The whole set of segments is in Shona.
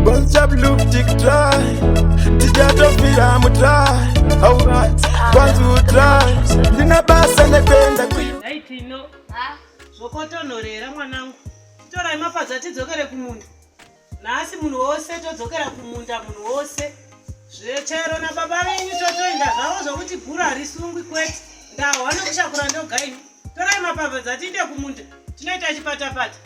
Bonza blue tick try Tijatofira mu try Alright Kwanza u try Ndina basa nekwenda kuyi Daiti ino Zvokotonorera mwanangu Torai mapadza tidzokere kumunda Nhasi munhu wose todzokera kumunda munhu wose Zvechero na baba venyu totoinda zvavo zvokuti bhuru harisungwi kwete Ndahwa nokushakura ndogaini Torai mapadza tiinde kumunda Tinoita chipatapata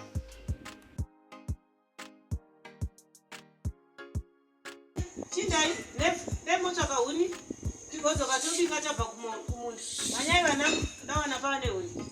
chindai nemotsvaka huni tigodzoka tobika tabva kumunda manyai vana ndawana pava nehuni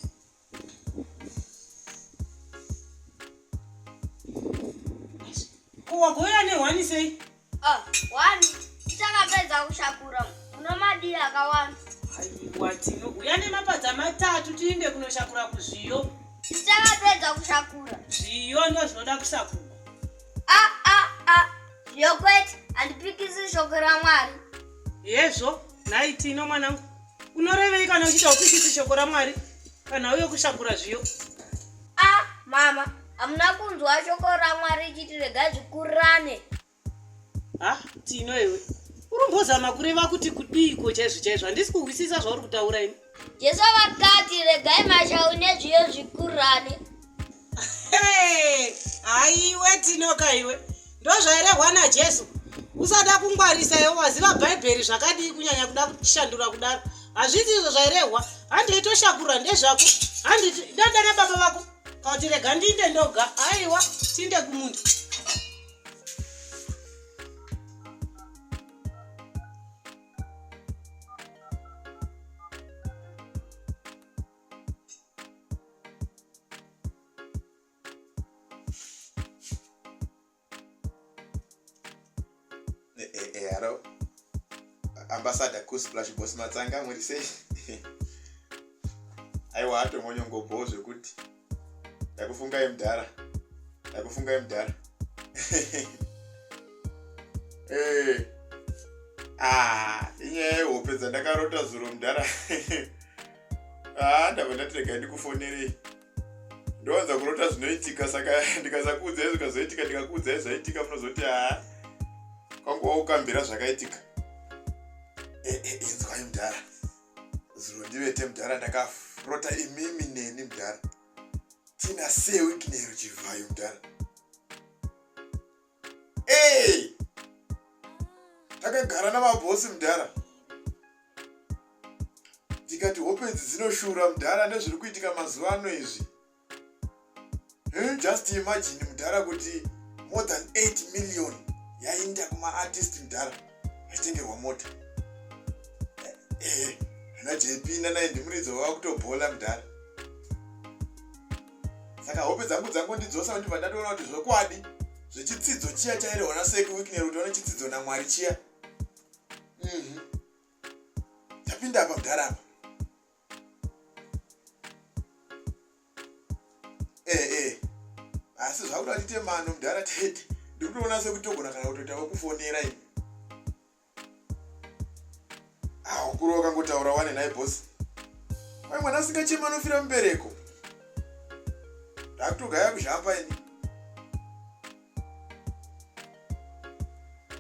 wagoya nehwani sei Ah, wani tichakapedza kushakura muno madii akawanda aiwa tino uya nemapadza matatu tiinde kunoshakura kuzviyo tichakapedza kushakura zviyo ndo zvinoda kushakurwa ah, ah, ah. zviyo kwete handipikisi shoko ramwari hezvo nhai tino mwanangu unorevei kana uchiita upikisi shoko ramwari kana uye kushakura zviyo a ah, mama hamuna kunzwa shoko ramwari ichiti regai zvikurane ha ah, tino iwe urumbozama kureva kuti kudiiko chaizvo chaizvo handisi kuhwisisa zvauri kutaura ini jesu vakati regai mashau nezviyo zvikurane haiwe tinoka iwe ndozvairehwa najesu usada kungwarisa iwe waziva bhaibheri zvakadii kunyanya kuda kushandura kudaro hazviti izvo zvairehwa handi itoshakurwa ndezvako handi ndadana baba vako kauti rega ndiinde ndoga aiwa tiinde kumundu Eh, eh, eh, haro ambasada kusplash bos matsanga muri sei aiwa atomonyongobhowo zvekuti ndakufungai mudhara ndakufungai mudhara ah, inyaya yehope dzandakarota zuro mudhara haa ah, ndava ndati regai ndikufonerei ndowanza kurota zvinoitika saka ndikasakuudzai zvikazoitika ndikakuudzai zvaitika munozoti haa ah, kwanguva ukambira zvakaitika eh, eh, inzwai mudhara zuro ndivete mudhara ndakarota imimi neni mudhara tina sewiki nero chivhayo mudhara ee takagara namabhosi mudhara ndikati hope idzi dzinoshura mudhara nezviri kuitika mazuva ano izvi just imagine mudhara kuti more than 8 million yainda kumaartist mudhara aitengerwa mota ee eh, ana jp nanaye ndimuridzi wava kutobhola mudhara saka hope dzangu dzangu ndidzosa ndibva ndatoona kuti zvokwadi zvechitsidzo chiya chairehwa naseki wiknero kuti one chitsidzo namwari chiya mhm. tapinda apa mudhara apa ee eh, ee eh. asi zvakuda tiite mano mudhara tete ndikutoona sekuti togona kana kutoita wekufonera ini haukuru wakangotaura wane nhai bosi mai mwana asingachema anofira mubereko ndakutogaya kuzhamba ini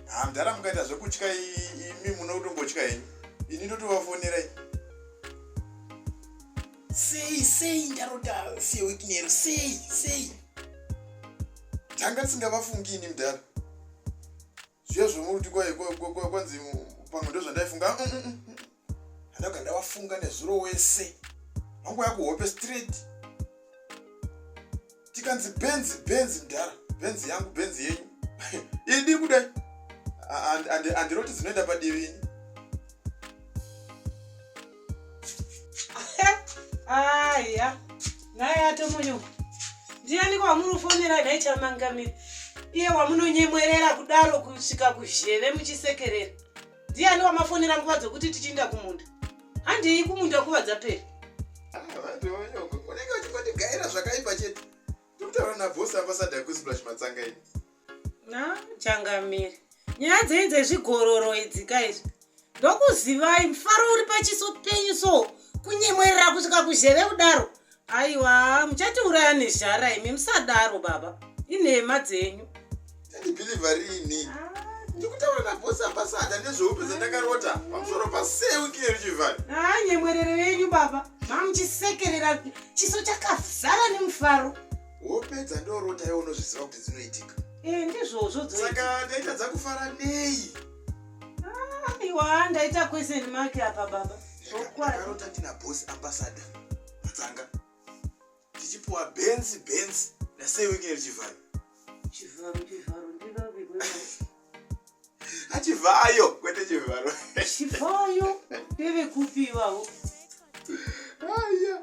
hamdara mukaita zvekutya imi muno kutongotya henyu ini ndotovafonera ini sei sei ndarota sewiknero sei sei ndanga ndisingavafungi ini mudhara zviya zvemuti kwaye kwanzi pamwe ndozvandaifunga mm, mm, mm, handaga ndawafunga nezuro wese vangu yakuhope straight tikanzi benzi benzi mdhara benzi yangu benzi yenyu idi kudai andiroti dzinoenda padivi ini aya naye atomunyo ndiyaniko wamunofonera dai chamangamira iye wamunonyemwerera kudaro kusvika kuzheve muchisekerera ndiani wamafonera nguva dzokuti tichiinda kumunda handei kumunda nguva dzapera ah, unenge uchikondigaira zvakaipa chete tokutaura nabhosi ambasada kusplash matsanga ini changamire nyaya dzenyu dzezvigororo idzi ka izvi ndokuzivai mufaro uri pachiso penyu so kunyemwerera kusvika kuzheve kudaro aiwa muchatiuraya nezhara imi musadaro baba inhema dzenyu ndibhilivha riini ndikutaura nabosi ambasada nezveupe zvandakarota pamusoro pasewikile richivhari haa nyemwerero yenyu baba mamuchisekerera chiso chakazara nemufaro wopedza ndorota iwe unozviziva kuti dzinoitika eh, ndizvozvo saka ndaita dzakufara nei ah, iwa ndaita question mark apa baba akarota ndina boss ambassador matanga tichipuwa benzi benzi nasei wekine richivharo chivharo chivharo ndivave achivayo kwete chivharo chivayo ndevekupiwawo aya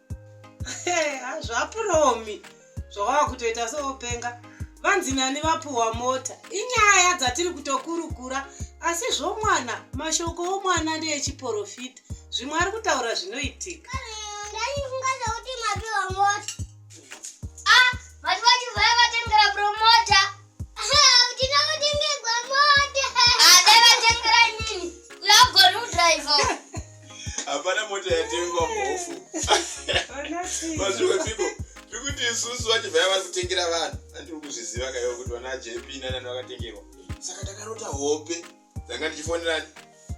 zvapuromi zvawava kutoita sewopenga vanzi nani vapuhwa mota inyaya dzatiri kutokurukura asi zvomwana mashoko omwana ndeechiporofita zvimwe ari kutaura zvinoitika ndaifunga zvekuti mapiwa mota ah, vati vati vaya vatengera promota hapana mota yatengwa mhofu mazviwepiko zvekuti isusu vachibva yava kutengera vanhu andiri kuzviziva kaiwa kuti vana jp nanani vakatengerwa saka takarota hope ndanga ndichifonera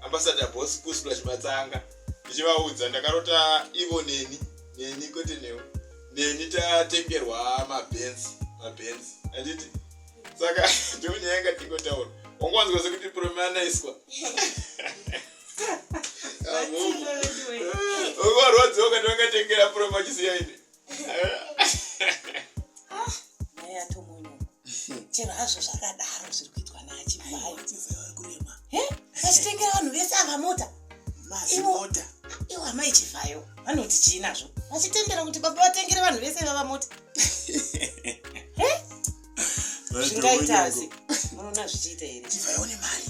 ambasada bos kusula chimatsanga ndichivaudza ndakarota ivo neni neni kwete newe neni tatengerwa mabenzi mabenzi anditi saka ndonyaya yanga tingotaura wanga wanzwa sekuti promanaiswa ukarwadziwa ukati wangatengera promachiziyaine chero hazvo zvakadaro zviri kuitwa naachivhayokurema vachitengera vanhu vese ava mota mazimota iwo amai chivhayo vanoti chii nazvo vachitendera kuti baba vatengere vanhu vese vava mota zvingaitazi munoona zvichiita here chivhayo nemari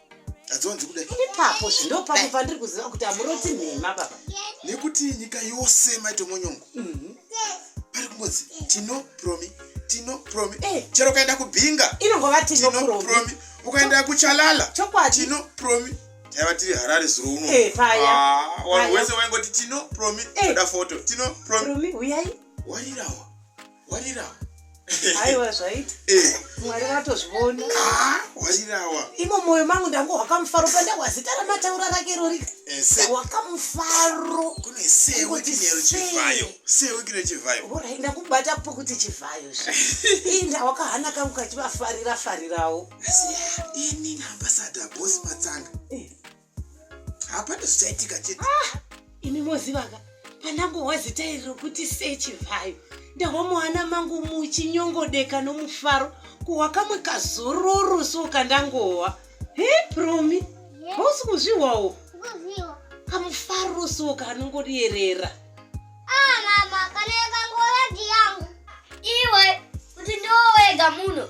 adzonzi kudai ipapo zvindopapo pandiri kuziva kuti amuroti nhema baba nekuti nyika yose maitomonyongo mhm. pari kungozi tino promi tino promi eh. chero ukaenda kubhinga inongova tino promi ukaenda kuchalala chokwadi tino promi taiva tiri harare zuro uno eh, ah, wanhu wese waingoti tino promi eh. oda foto tino promi uyai wairawa warirawa aiwa zvaita eh. mwari vatozviona ah, warirawa imo moyo mangu ndango wakamufaro pandawa zita ramataura rake rori eh, wakamufaro ndakubata po kuti chivhayo inda wakahana kangu kachivafarira farirawo ini naambasada bosi matsanga eh. hapana zvichaitika chete ah, imi mozivaka pandangohwa zita iri rokuti sechivhayo ndahwa muhana mangu muchinyongodeka nomufaro kuhwa kamwe kazororo so kandangohwa he promi hausi kuzvihwawo kamufaro so kanongorierera ah, mama kana yakangoyagi yangu iwe kuti ndowega muno